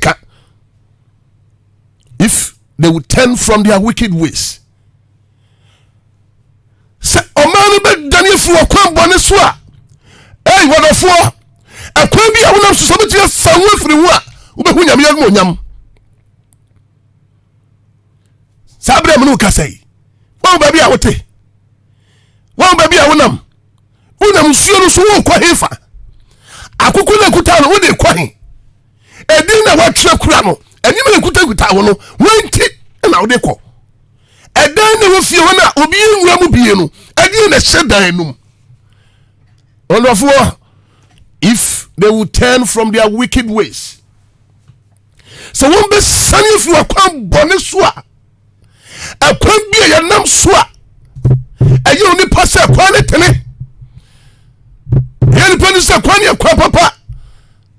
ka if they would turn from their wicked ways sɛ ɔman no bɛdane afiri ɔkwan bɔne so a ei wɔdɔfoɔ ɛkwan bi a wonam so sɛ wobɛtumi afa ho afiri ho a wobɛhu nyame yɛ onyam saa berɛ mu no woka sɛi wɔn baabi a wote wɔn baabi a wonam wonam nsuo no so wokɔ hefa akoko na ɛkuta no wode kɔ he ɛdin na woatwerɛ kura no anim na ɛkutakuta wo no wanti na wode kɔ ɛdan na wofie hɔ no a obi nwura mu bie no ɛdeɛ na ɛhyɛ dan no mu ɔdɔfoɔ if they will turn from their wicked ways sɛ wɔn bɛ sani fi wɔn kwan bɔne so a ɛkwan bi a yɛnam so a ɛyɛ onipa sɛ ɛkwan ne tene ɛyɛ nipa no sɛ kwan ne ɛkwan papa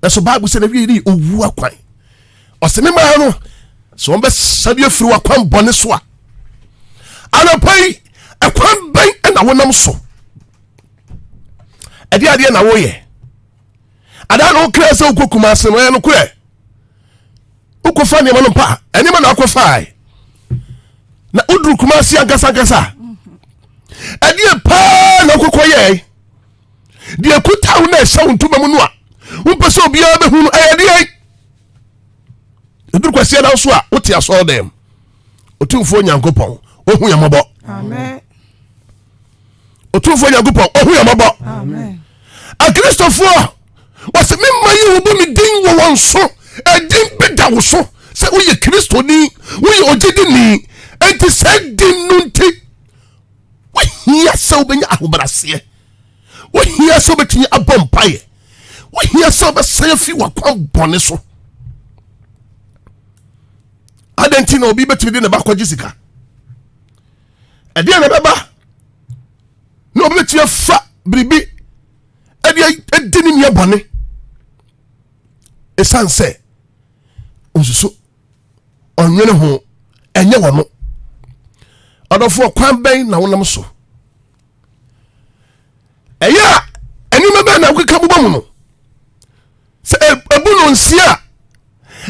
nanso bible sɛ na wie ne ɔwu akwan ɔsɛ me maa no sɛ wɔbɛsa bi afiri wakwan bɔne so a anapa yi ɛkwan bɛn ɛna wonam so ɛde adeɛ na woyɛ adaa na wokra sɛ wokɔ kuma ase no ɛyɛ nokorɛ wokɔfa nneɛma no mpa ɛnneɛma na akɔfae na woduru kuma ase ankasa ankasa ɛdeɛ paa na wokɔkɔ yɛe deɛ kuta wo na ɛhyɛ wo ntoma mu no a wompɛ sɛ obiara bɛhu no ɛyɛ deɛ ɛduru kwasia na so a wote asɔɔ dɛm ɔtumfoɔ nyankopɔn ɔhu yɛ mmɔbɔ ɔtumfoɔ nyankopɔn ɔhu yɛ mmɔbɔ akristofoɔ wɔsɛ me mma yi wɔbɔ me din wɔ wɔn so ɛdin bɛda wo so sɛ woyɛ kristoni woyɛ ogyedini enti sɛ din no nti wohia sɛ wobɛnya ahobraseɛ wohia sɛ wobɛtumi abɔ mpaeɛ wohia sɛ wobɛsan afi wakwan bɔne so adɛn nti na obi bɛtumi de ne ba kɔgye sika ɛdeɛ na ɛbɛba na obi bɛtumi afa biribi ɛde ɛdi ne nua bɔne ɛsiane sɛ ɔsusu ɔnwene ho ɛnyɛ wɔn ɔdɔfoɔ kwan bɛn na wonam so ɛyɛ a ɛnneɛma bɛn na wokeka bobɔ mu no sɛ ɛbu no nsia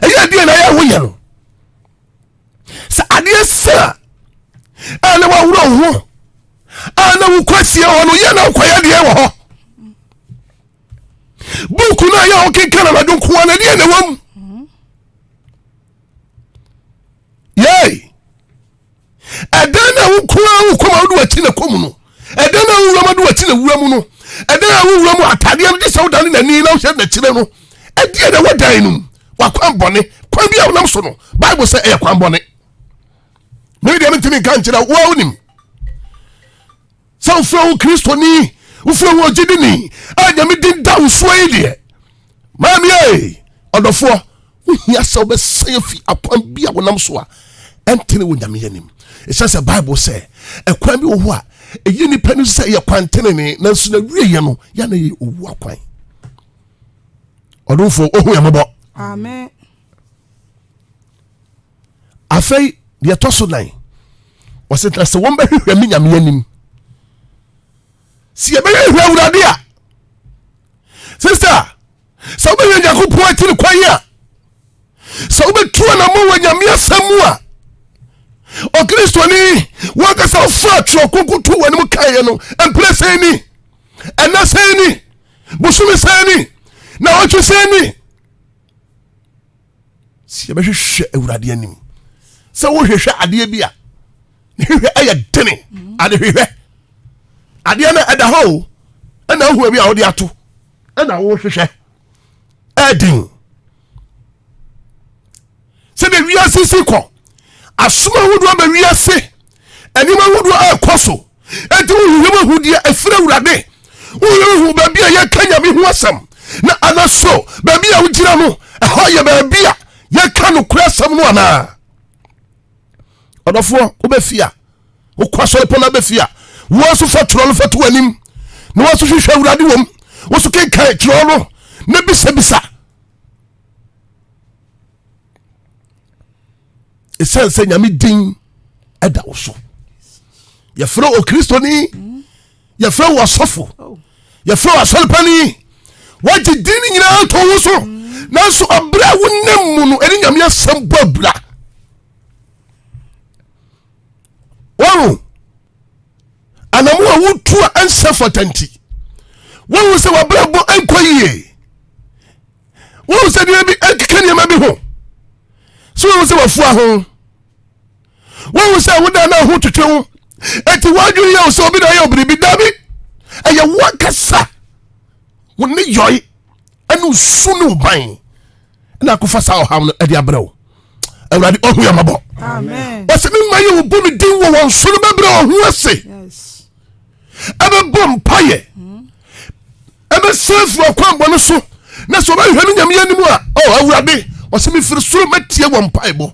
a ɛyɛ deɛ na yɛ ho yɛ no sɛ adeɛ sa a na waworɔ wo ho a na wokɔ sie hɔ no yɛ na wokɔyɛ deɛ wɔ hɔ buuku no a yɛ wokenkan anadwo nkoa no deɛ na wɔ mu yei ɛdan na wo kura wo kɔma wode wakyi na kɔmu no ɛdan na wowura mu de wakyi na wura mu no ɛdan a wowura mu atadeɛ no gye sɛ wodane n'ani na wohyɛ n'akyire no ɛdeɛ na ɛwɔ dan no mu wakwan bɔne kwan bi a wonam so no bible sɛ ɛyɛ kwan bɔne mene deɛ mentumi nka nkyerɛ woa wonim Sɛ wofrɛ wo Kristoni, wofrɛ wo ogyidini a Nyame din da wo soɔ yi deɛ, maame ee, ɔdɔfoɔ, wohia sɛ wobɛsan afi akwan bi a wonam so a ɛntene wɔ Nyame anim. Ɛsiane sɛ Bible sɛ ɛkwan bi wɔ hɔ a ɛyɛ nipa no sɛ yɛ kwan tenene nanso na wieɛ no yɛ na yɛ owu akwan. Ɔdomfoɔ, ohu yɛ mmɔbɔ. Amen. afei deɛ ɛtɔ so nan ɔsɛ na sɛ wɔn bɛhwehwɛ me nyame anim si ɛbɛhwehwɛ awurade a sista sɛ wobɛhwɛ nyankopɔn akyiri kwan a sɛ wobɛtu anamɔ wɔ nyame asɛm mu a ɔkristoni wankasa wofa twerɛ kronkron to wɔ anim kaeɛ no mprɛ sɛn ni ɛnɛ sɛn ni bosome sɛn ni na ɔtwe sɛn ni sɛ yɛbɛhwehwɛ awurade anim sɛ wohwehwɛ adeɛ bi a ne hwehwɛ ɛyɛ dene mhm. ade hwehwɛ adeɛ no ɛda hɔ o ɛna ahu abi a wode ato ɛna wohwehwɛ ɛden sɛdeɛ wiase si kɔ asom ahodoɔ ba wiase nneɛma ahodoɔ ɛrekɔ so Enti wohu yɛn ahudeɛ a ɛfiri Awurade. Wohu baabi a yɛka Nyame ho asɛm, na anaso baabi a wogyina no, ɛhɔ yɛ baabi a yɛka nokorɛ asɛm no anaa? Ɔdɔfoɔ, wobɛfie a, wokɔ asɔre pɔ no abɛfie a, woɔ nso fa twerɛ no fa to w'anim, na woɔ nso hwehwɛ Awurade wom, wo nso kenkan twerɛ no, na bisabisa. ɛsiane sɛ nyame din ɛda wo so yɛfrɛ wɔ kristoni yɛfrɛ wɔ asɔfo yɛfrɛ wɔ asɔrepani wagye din no nyinaa nto wo so nanso ɔberɛ a wonam mu no ɛne nyame asɛm bɔ abira wɔn anamu a wotu a ɛnsɛ fata nti wɔn sɛ wɔabrabɔ nkɔ yie wohu sɛ nneɛma bi ɛkeka nneɛma bi ho so wohu sɛ wafua ho wohu sɛ woda na ho twetwe wo ɛti woadwene yɛ wo sɛ obi na ɔyɛ obiribi dabi ɛyɛ woakasa wo ne yɔe ɛne osu ne woban ɛna akofa saa ɔhaw no ɛde abrɛ wo awurade ɔhu yɛ mɔbɔ ɔsɛ me ma yɛ wobu me din wɔ wɔn so no bɛbrɛ ɔho ase ɛbɛbɔ mpayɛ mm. Ɛbɛsan afiri ɔkwammɔne so, na sɛ ɔbɛhwehwɛ ne Nyame anim a, oh, Awurade, ɔsɛ mefiri soro mɛtie wɔn mpaebɔ,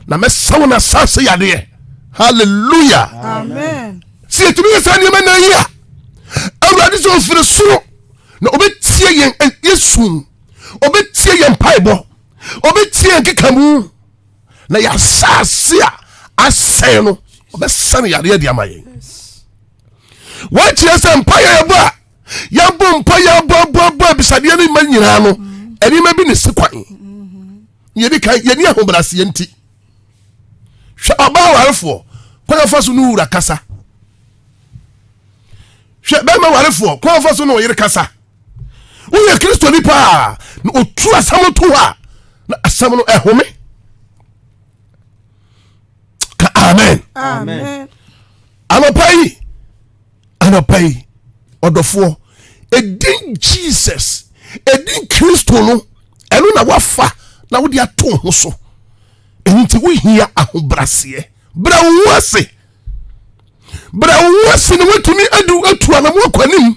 na mɛsa wɔn asase yadeɛ. Hallelujah. Amen. Sɛ yɛtumi yɛ saa nneɛma na yi a, Awurade sɛ ɔfiri soro na ɔbɛtie yɛn eh, yɛsu, ɔbɛtie yɛn mpaebɔ, ɔbɛtie yɛn kekamu, na yɛasase a asɛe no, ɔbɛsa no yadeɛ de ama yɛn. wɔakyerɛ sɛ mpaeɛ yɛbɔ a yɛbɔ mpa yɛbɔbɔbɔ abisadeɛ no ma nyinaa no nneɛma bi ne si kwan yɛdi kan yɛni ahobraseɛ nti hwɛ ɔbaa warefoɔ kwan afa so no wura kasa hwɛ bɛrima warefoɔ kwan afa so no ɔyere kasa woyɛ kristoni paa na ɔtu asɛm to hɔ a na asɛm no ɛhome ka amen, amen. Anɔpa yi, anɔpa yi, ɔdɔfoɔ, ɛdin Jesus, ɛdin Kristo no, ɛno na wafa na wode ato ho so. Ɛno nti wohia ahobraseɛ. Brɛ wo ho ase. Brɛ wo ho ase na woatumi adu atu anamoa kwanim.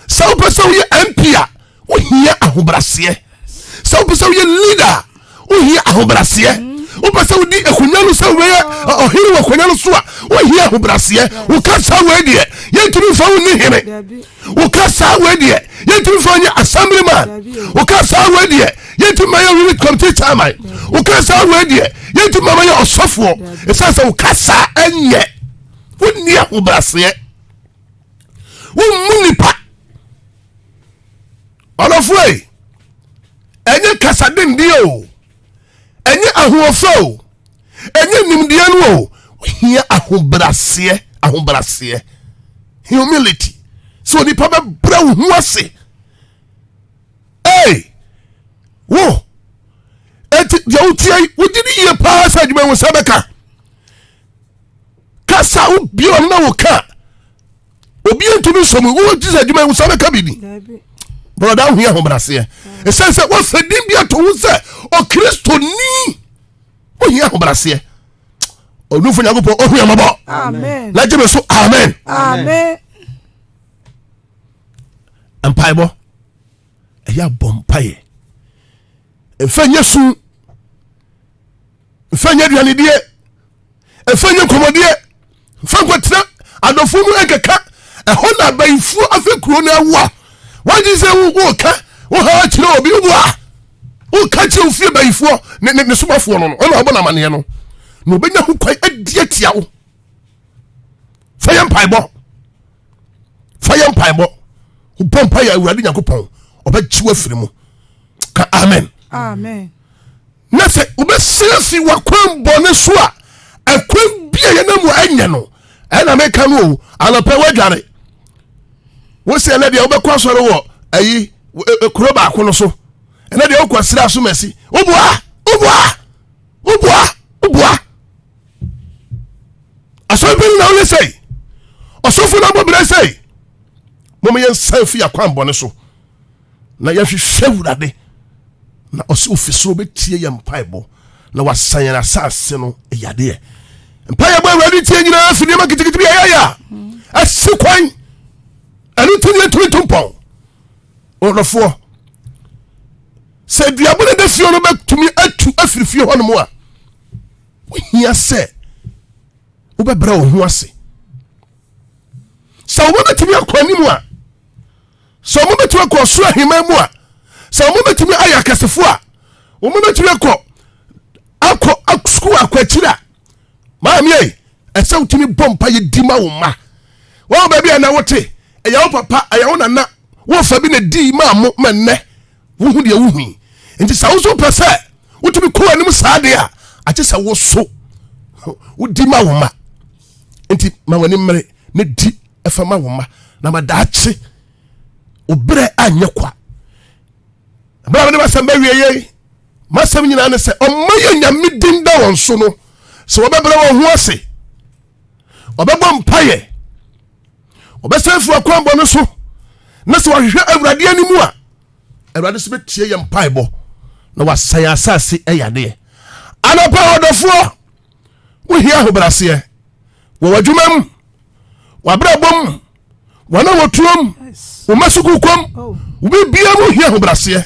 Sɛ wopɛ sɛ woyɛ MP a, wohia ahobraseɛ sɛ wopɛ sɛ woyɛ leader a wohia ahobraseɛ wopɛ sɛ wodi akonya no sɛ wobɛyɛ ɔhene wɔ akonya no so a wohia ahobraseɛ woka saa wei deɛ yɛntumi mfa wo nni hene woka saa wei deɛ yɛntumi mfa nyɛ assembly man woka saa wei deɛ yɛntumi ma yɛ unit committee chairman woka saa wei deɛ yɛntumi ma ma yɛ ɔsɔfoɔ ɛsiane sɛ woka saa ɛnyɛ wonni ahobraseɛ wommu nipa ɔdɔfoe ɛnyɛ kasa dendin o ɛnyɛ ahoɔfɛ o ɛnyɛ nimdeɛ no o ohia ahobraseɛ ahobraseɛ humility sɛ onipa bɛbrɛ wo ho ase ee wo eti deɛ wotia yi wogye ne yie paa sɛ adwuma yi wo sɛ bɛka kasa wo biom na wo ka obi ntumi nsɔ mu wo jesus adwuma yi nsa bɛka biribi bɔlɔda ahu yɛ ahobraseɛ ɛsiane sɛ wɔsɛ din bi ato ho sɛ ɔkristoni wohia ahobraseɛ ɔdufo nyankopɔn ɔhu yɛ mmɔbɔ na gye me so amen mpaebɔ ɛyɛ abɔ mpaeɛ ɛmfa nyɛ su mfa nyɛ aduanedie ɛfa nyɛ nkɔmmɔdeɛ mfa nkɔtena adɔfoɔ mu ɛnkɛka ɛhɔ na abayifoɔ afɛ kuro no awo a wagye sɛ woka woha kyerɛ obi wo a woka kyerɛ ofie bayifoɔ ne ne somafoɔ no no ɔna ɔbɔ n'amanneɛ no na ɔbɛnya ho kwan adi atia wo fa yɛ mpaebɔ fa yɛ mpaebɔ wobɔ mpa yɛ awurade nyankopɔn ɔbɛkyew afiri mu ka amen amen Na sɛ wobɛsan afi w'akwan bɔne so a, ɛkwan bi a yɛnam wɔ ɛnyɛ no ɛna meka no o anɔpɛ woadware wo sɛ ɛnɛ deɛ wobɛkɔ asɔre wɔ ayi e, e, kuro baako no so ɛnɛ deɛ wokɔ sra so masi woboa woboa woboa woboa asɔre pɛ no na woyɛ sɛi ɔsɔfo no abɔ berɛ sɛi mom yɛnsan fi akwan bɔne so na yɛhwehwɛ Awurade, na ɔsɛ ofi soro bɛtie yɛn mpaebɔ na wasa yɛn asase no yadeɛ. Mpaeɛ bɔ Awurade tie nyinaa fi nneɛma kitikiti bi ɛyɛ yɛ a ɛsi kwan ɛno nti ne yɛtumi to mpɔn ɔdɔfoɔ sɛ aduaba no da fie no bɛtumi atu afiri fie hɔ nom a wohia sɛ wobɛbrɛ wo ho ase sɛ wobɛbɛtumi akɔ anim a Sɛ wɔbɛtumi akɔ ɔsoro ahemman mu a, sɛ wɔbɛtumi ayɛ akɛsefo a, wɔbɛtumi akɔ akɔ sukuu akɔ akyiri a, maame ei, ɛsɛ wotumi bɔ mpa yɛ di ma wo mma. Wɔn baabi a na wote, ɛyɛ wo papa, ɛyɛ wo nana, wofa bi na di ma mo ma nnɛ wohu deɛ wohu yi. Nti sɛ wo nso pɛ sɛ wotumi kɔ anim saa deɛ a, agye sɛ wo so wodi ma wo mma. Nti ma w'ani mmere na di ɛfa ma wo mma na ma daakye obrɛ anyɛ kwa ɛberɛ a mede masɛm bɛwie yei masɛm nyinaa ne sɛ ɔma yɛ nyame din da wɔn so no sɛ wɔbɛbrɛ wɔn ho ase ɔbɛbɔ mpayɛ ɔbɛsɛ firi akwanbɔ no so na sɛ wɔhwehwɛ awurade anim a awurade so bɛtie yɛ mpaebɔ na wasɛe asase ɛyadeɛ anapa ɔdɔfoɔ Wohia ahobraseɛ wɔ w'adwuma mu, w'abrabɔ mu, wɔn a wɔtuo mu, wo mma sukuu kɔm, wo biribiara mu hia ahobraseɛ.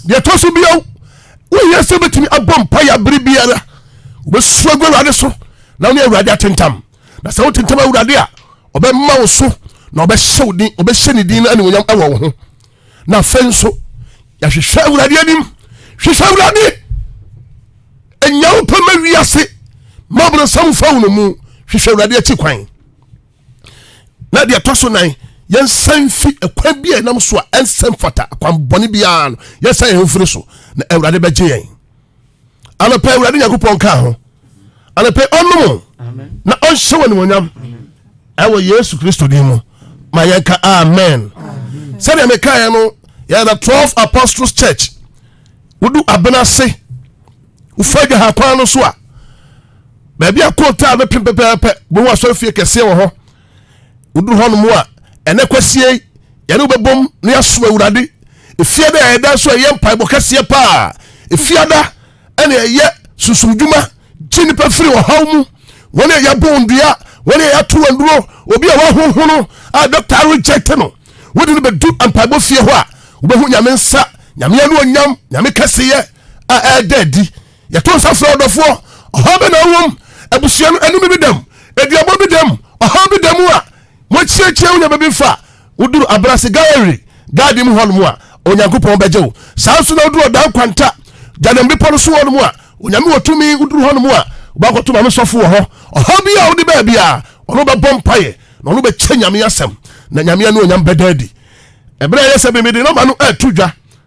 Deɛ ɛtɔ so bio, wohia sɛ wobɛtumi abɔ mpaeɛ abere biara. Wobɛsu agu Awurade so na wo ne Awurade atentam. Na sɛ wotentam Awurade a, ɔbɛma wo so na ɔbɛhyɛ wo din, ɔbɛhyɛ ne din no animuonyam wɔ wo ho. na afei nso yɛahwehwɛ awurade anim hwehwɛ awurade ɛnya wo pɛ ma wiase ma ɔbrɛsam fa wo no mu hwehwɛ awurade akyi kwan na deɛ ɛtɔ so nan yɛnsan fi ɛkwan bi a ɛnam so a ɛnsɛm fata akwanbɔne biara no yɛnsan yɛn ho firi so na awurade bɛgye yɛn anɔpɛ awurade nyankopɔn ka ho anɔpɛ ɔnom na ɔnhyɛ wɔ animonyam ɛwɔ yesu kristo din mu ma yɛnka amen sɛdeɛ mekaeɛ no yɛyɛ the 12 apostles church wodu abena ase wofa adwa ha kwan no so a baabi a kontaa bɛpem pɛpɛɛpɛ bohu asɔrefie kɛseɛ wɔ hɔ Woduru hɔ nom a, ɛnɛ kwasie yi, yɛne wo bɛbom na yɛasom Awurade. Efie da a ɛda nso ɛyɛ mpaebɔ kɛseɛ paa. Efiada ɛna ɛyɛ sunsum dwuma, gye nnipa firi ɔhaw mu. Wɔn a yɛabɔ wɔn dua, wɔn a yɛato wɔn duro, obi a wahohono a dɔkta arejɛte no, wode no bɛdu mpaebɔ fie hɔ a, wobɛhu Nyame nsa, Nyame anuonyam, Nyame kɛseyɛ a ɛda adi. Yɛto nsa frɛ ɔdɔfoɔ. Ɔhaw bɛ na wowom? Abusua no anim bi dam? Aduabɔ bi dam? Ɔhaw bi da mu a? Moakyiakyia wo nneɛma bi fa? Woduru Abrase Gallery Garden mu hɔnom a, Onyankopɔn bɛgye wo. Saa nso na woduru Ɔdan Kwanta, Gyanem Bepɔ no so hɔnom a, Onyame wɔ tumi, woduru hɔnom a, wobɛakɔto Maame Sɔfo wɔ hɔ. Ɔhaw biara a wode baa biara, ɔno bɛbɔ mpaeɛ na ɔno bɛkyɛ Nyame asɛm, na Nyame anuonyam bɛda adi. Ɛberɛ a ɛyɛ sɛ Bemede nɔma no reto dwa,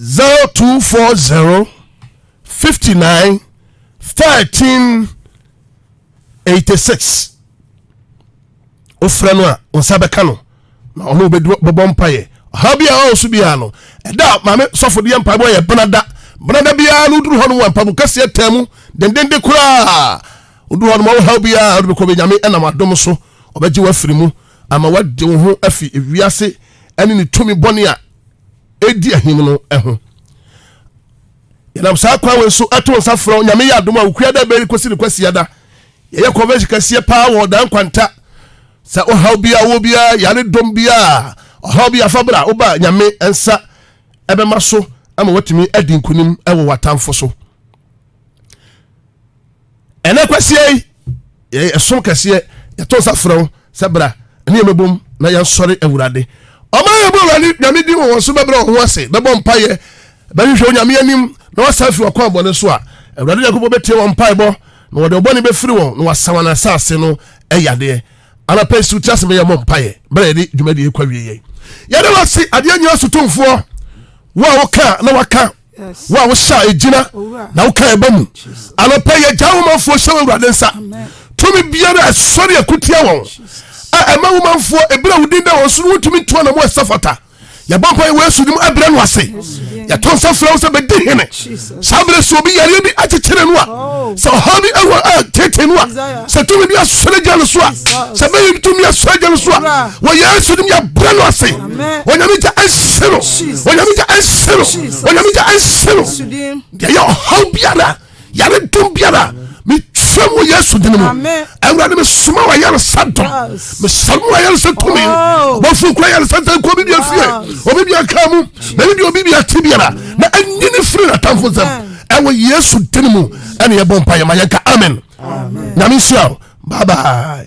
zero two four zero fifty nine thirteen eighty six wofrɛ no a nsa bɛka no na ɔno bɛbɔ mpayɛ ɔhaw bi a ɔwɔ so biara no ɛda maame sɔfo deɛ mpaebɔ yɛ benada benada biara no woduru hɔ no wɔ mpaebɔ kɛseɛ taa mu dendende koraa woduru hɔ no ma wohaw biara wode bɛkɔ bɛnyame ɛnam adom so ɔbɛgye wafiri mu ama woagye wo ho afi wiase ne ne tumi bɔne a ɛdi ahim no ho. Yɛnam saa kwan wei so ɛto nsa frɛ Onyame yɛ adom a wokua da bɛyi kɔsi ne kwasiada. Yɛyɛ convention kɛseɛ paa wɔ ɔdan kwanta. Sɛ ɔhaw biara wɔ biara, yare dɔm biara, ɔhaw bi afa bra, woba Nyame nsa ɛbɛma so ama watumi adi nkunim ɛwɔ w'atamfo so. ɛnɛ kwasia yi yɛyɛ ɛsom kɛseɛ yɛto nsa frɛ wo sɛ bra ɛne yɛmɛbom na yɛnsɔre awurade ɔma yɛbɔ awurade nyame din wɔ wɔn so bɛbrɛ wɔn ho ase bɛbɔ mpayɛ bɛhwehwɛ onyame anim na wɔsan afiri wɔkɔ abɔne so a awurade nyankopɔn bɛtie wɔn mpaebɔ na wɔde ɔbɔne bɛfiri wɔn na wɔasa wɔn asase no ɛyadeɛ anapa yi so ti ase bɛyɛ mɔ mpaeɛ berɛ yɛde dwumadie kɔ wie yɛn yɛde wɔ se adeɛ nyina so tomfoɔ wo a woka na waka wo a wohyɛ egyina na woka ɛba mu anɔpɛ yɛ gya womanfoɔ hyɛ w'awurade nsa tumi biara ɛsɔre akutia wɔn a ɛma womanfoɔ ebira wo din da wɔn so no wontumi ntoa na mo ɛsɛ fata yɛbɔ mpa yɛ wɔ yesu nim ɛbrɛ no ase yɛto nsa frɛ wo sɛ bɛdi hene saa berɛ sɛ obi yareɛ bi akyekyere no a sɛ ɔhaw bi ɛwɔ a tete no a sɛ tumi bi asɔre gya no so a sɛ bɛyi tumi asɔre gya no so a wɔ yesu nim yɛbrɛ no ase onyame gya nsi no onyame gya nsi no onyame gya nsi no deɛ yɛ ɔhaw biara yare dom biara metwa mu yesu dene mu awurade mesoma wɔ ayaresa dɔm mesam wɔ ayaresa tumi oh. bɔfo kura yaresa sɛ nkɔ bibia fie obi bia ka mu na ne deɛ obi bia te biara na ɛnyini firi natamfo nsɛm ɛwɔ yesu dene mu ɛne yɛbɔ mpa yɛma yɛnka amen nyame nhyira bye bye